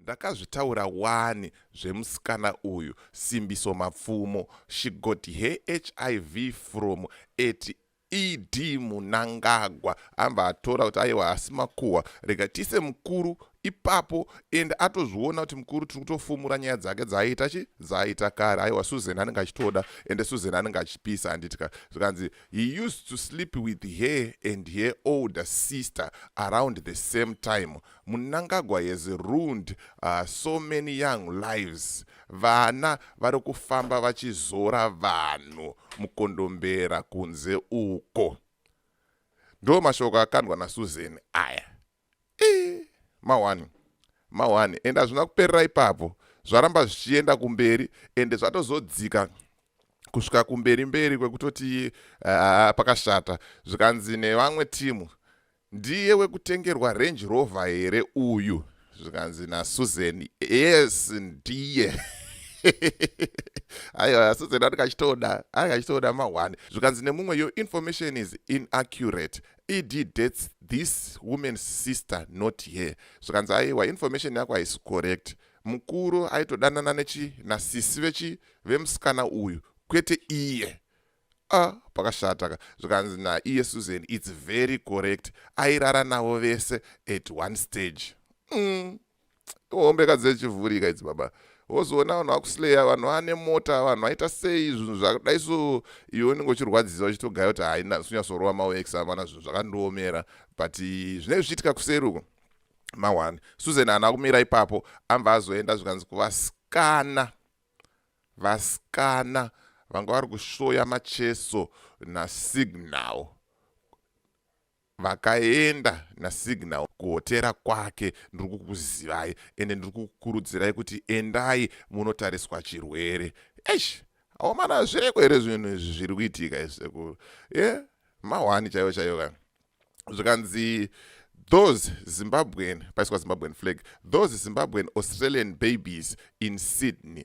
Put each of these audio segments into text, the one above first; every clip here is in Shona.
ndakazvitaura wani zvemusikana uyu simbiso mapfumo she got her hiv from at ed munangagwa amba atora kuti aiwa asi makuhwa rega tise mukuru ipapo and atozviona kuti mukuru tiri kutofumura nyaya dzake dzaaita chi dzaaita kare aiwa susan anenge achitoda ende susan anenge achipisa handiti ka zvikanzi He used to sleep with her and her older sister around the same time. Munangagwa has ruined uh, so many young lives. Vana vari kufamba vachizora vanhu mukondombera kunze uko. Ndo mashoko akandwa naSusan aya. ii mahwani mahwani ende hazvina kuperera ipapo zvaramba zvichienda kumberi ende zvatozodzika kusvika kumberi mberi kwekutoti uh, pakashata zvikanzi nevamwe timu ndiye wekutengerwa range rover here uyu zvikanzi nasusan yes ndiye aiwa asusan ati kachitoda ari kachitoda mahwani zvikanzi nemumwe your information is inaccurate ed debts this woman's sister not her zvikanzi aiwa information yako haisi correct mukuru aitodanana nechi nasisi vechi vemusikana uyu kwete iye a pakashataka zvikanzi naiye susan its very correct airara navo vese at one stage mm. hombeka dzechivhurika idzi baba wozoona vanhu vakusleya vanhu vane mota vanhu vaita sei zvinhu zvakadai so iwe unenge uchirwadzisa uchitogaya kuti haina sunyasorowa mawex amana zvinhu zvakandiomera but zvinenge zvichiitika kuseri uko mawani susan ana kumira ipapo amba azoenda zvikanzi kuvasikana vasikana vanga vari kushoya macheso nasignal vakaenda nasignal kuhotera kwake ndiri kukuzivai ende ndiri kukurudzirai kuti endai munotariswa chirwere eish aomana zvireko here zvinhu izvi zviri kuitika izvisekuru e eh, mahwani chaivo chaivo ka zvikanzi those zimbabwean paiswa zimbabwean flag those zimbabwean australian babies in sydney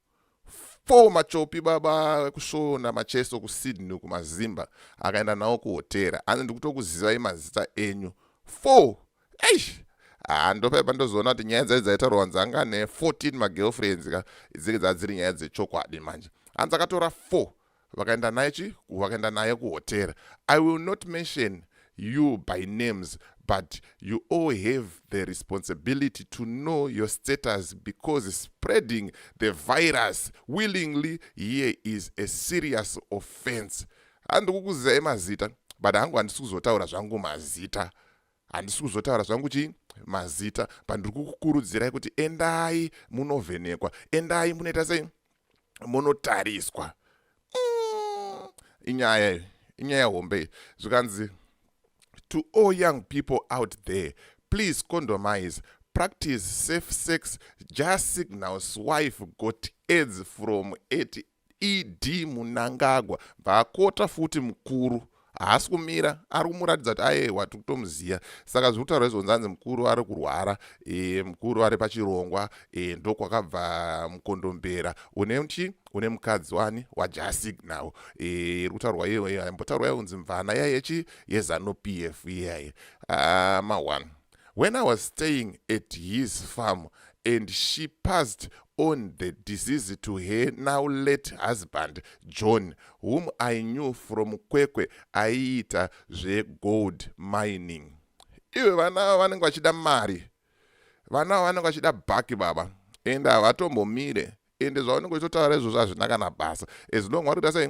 four machopi baba kusvona macheso kusydney kumazimba akaenda nawo kuhotera anzi ndikutokuzivai mazita enyu four eish handopaipa ndozoona kuti nyaya dzai dzaitaurwa nzanga ne 14 magirlfriends ka dzenge dzadziri nyaya dzechokwadi manje hanzi akatora four vakaenda naye chi vakaenda naye kuhotel i will not mention you by names but you all have the responsibility to know your status because spreading the virus willingly here is a serious offense handikukuzizai mazita but hangu handisi kuzotaura zvangu mazita handisi kuzotaura zvangu chii mazita pandiri kukukurudzirai kuti endai munovhenekwa endai munoita sei munotariswa mm, inyaya iyo inyaya hombe iyi zvikanzi to all young people out there please condomise practice safe sex just signals wife got aids from 88 ed munangagwa bvakota futi mukuru haasi kumira ari kumuratidza kuti ayewa tiri kutomuziva saka zviri kutaura izvonzi anzi mukuru ari kurwara e, mukuru ari pachirongwa e, ndokwakabva mukondombera une mchi une mukadzi wani wajasig now e, iri kutaurwa iyoyo aimbotaurwa yonzi mvana yaiyechi yezanupf iyaye ah, ma one When I was staying at his farm and she passed on the disease to her now late husband John whom I knew from Kwekwe aiita zvegold mining. Iwe vana ava vanenge vachida mari. Vana ava vanenge vachida bhaki baba and havatombomire ende zvaunenge uchitotaura izvozvo hazvina kana basa as long vari kuita sei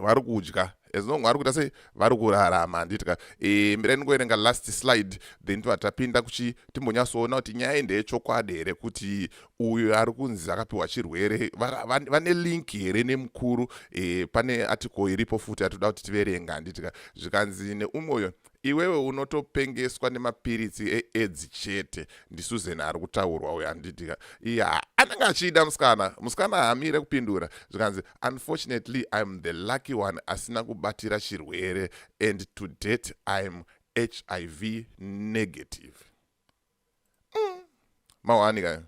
vari kudya as long vari kuita sei vari kurarama handitika e, mirai ndingoerenga last slide then tibva tapinda kuchi timbonyatsoona kuti nyaya iyi ndeyechokwadi here kuti uyo ari kunzi akapiwa chirwere vane link here nemukuru e, pane article iripo futi yatoda kuti tiverenga handitika zvikanzi neumwe uyo Iwewe unotopengeswa nemapiritsi eedzi chete ndisuzen ari kutaurwa uyo anditi ya anenge achiida musikana musikana hamire kupindura zvikanzi unfortunately im the lucky one asina kubatira chirwere and to date im hiv negative mm. mahwani kayo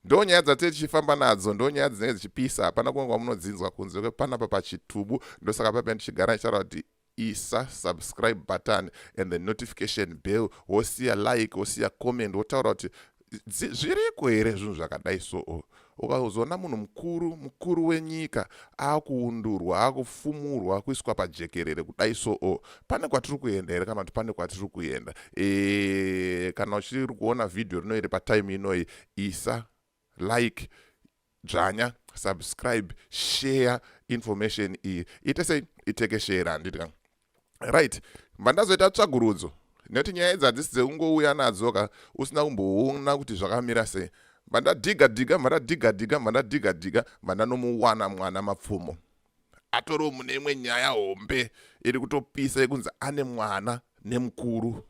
ndo nyaya dzatee tichifamba nadzo ndo nyaya dzinenge dzichipisa hapana kunge kwamunodzinzwa kunze kwepanapa pachitubu ndosaka pape ndichigara ndichitaura kuti isa subscribe button and the notification bell wosiya like wosiya comment wotaura kuti zviriko here zvinhu zvakadai soo ukazoona munhu mukuru mukuru wenyika akuundurwa akufumurwa kuiswa pajekerere kudai soo pane kwatiri kuenda here kana kuti pane kwatiri kuenda e, kana uchiri kuona vhidhiyo rino iri patime inoyi isa like dzvanya subscribe share information iyi ite sei itekeshere handiti ka right mva ndazoita tsvagurudzo nekuti nyaya idzi hadzisi dzekungouya nadzo ka usina kumboona kuti zvakamira sei mva ndadhiga dhiga mva ndadhiga dhiga mva ndadhiga dhiga mva ndanomuwana mwana mapfumo atoriwo mune imwe nyaya hombe iri kutopisa yekunzi ane mwana nemukuru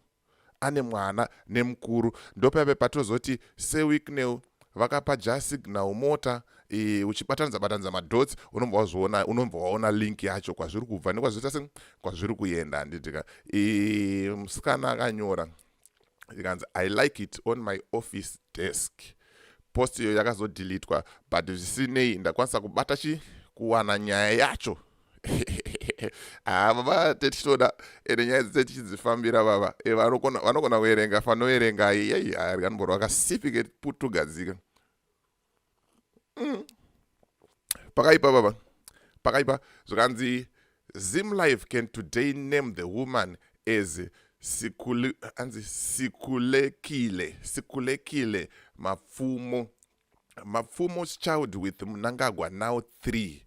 ane mwana nemukuru ndopaive patozoti se wicknel vakapa ja signal mota e, uchibatanidza batanidza madots unobva wazviona unobva waona link yacho kwazviri kubva nekwazviita se kwazviri kuenda handitika e, musikana akanyora ikanzi i like it on my office desk post iyo yakazodilitwa but zvisinei ndakwanisa kubata chi kuwana nyaya yacho haa ah, baba tete tinoda ende nyaya dzitete tichidzifambira baba eh, vanogona kuerenga fanoerenga yei arya nomboro vakasipike tugadzike mm. pakaipa baba pakaipa zvikanzi zim life can today name the woman as anzi sikulekile sikulekile mapfumo mapfumo child with mnangagwa now three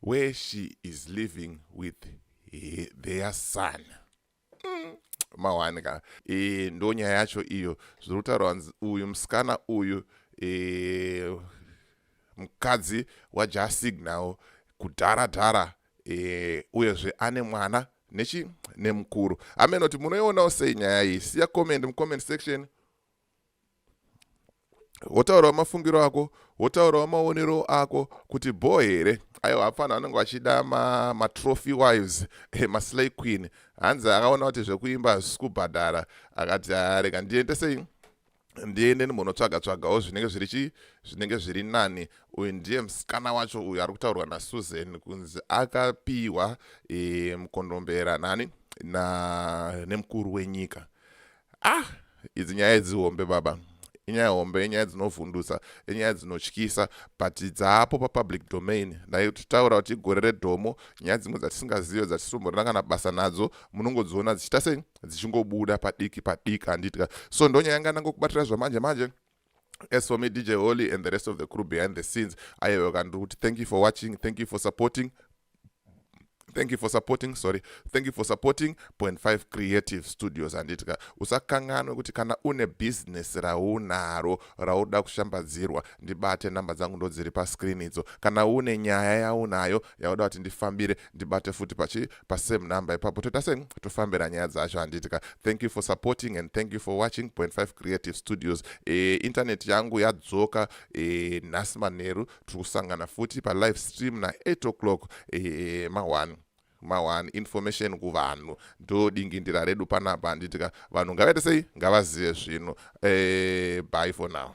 where she is living with he, their son mm, mawani ka e, ndo nyaya yacho iyo zviri kutaurwa nzi uyu musikana uyu e, mukadzi wajasignawo kudhara dhara e, uyezve ane mwana nechi nemukuru ameno kuti munoionawo sei nyaya iyi siya comment mucomment section wotaurawo mafungiro ako wotaurawo maonero ako kuti bho here aiwa hapfana vanenge vachida matrophy ma wives eh, maslay queen hanzi akaona kuti zvekuimba hazvisi kubhadhara akati arega ndiende sei ndiende ndimbonotsvaga tsvagawo zvinenge zviri chii zvinenge zviri nani uyu ndiye musikana wacho uyu ari kutaurwa nasusan kunzi akapiwa e, mukondombera nani na nemukuru wenyika ah idzi nyaya idzi hombe baba inyaya hombe inyaya dzinovhundutsa inyaya dzinotyisa but dzaapo papublic domain dai titaura kuti igore redhomo nyaya dzimwe dzatisingazive dzatisitomborina kana basa nadzo munongodziona dzichiita sei dzichingobuda padiki padiki handitya so ndonyaya yanga ndangokubatira zvamanje manje, manje as for me dj holy and the rest of the crew behind the scenes aive vakandiri kuti thank you for watching thank you for supporting thank you for supporting sorry thank you for supporting point five creative studios handitika usakanganwe kuti kana une bhizinesi raunaro rauda kushambadzirwa ndibate namba dzangu ndodziri pascreen idzo kana une nyaya yaunayo yauda kuti ndifambire ndibate futi pachi pasame number ipapo toita se tofambira nyaya dzacho handiti ka thank you for supporting and thank you for watching point five creative studios e, internet yangu yadzoka e, nhasi manheru tiri kusangana futi palive stream na 8 o'clock e, e, ma1 mawan information kuvanhu ndodingindira redu panapa handiti ka vanhu ngavaite sei ngavazive zvino e, eh, by for now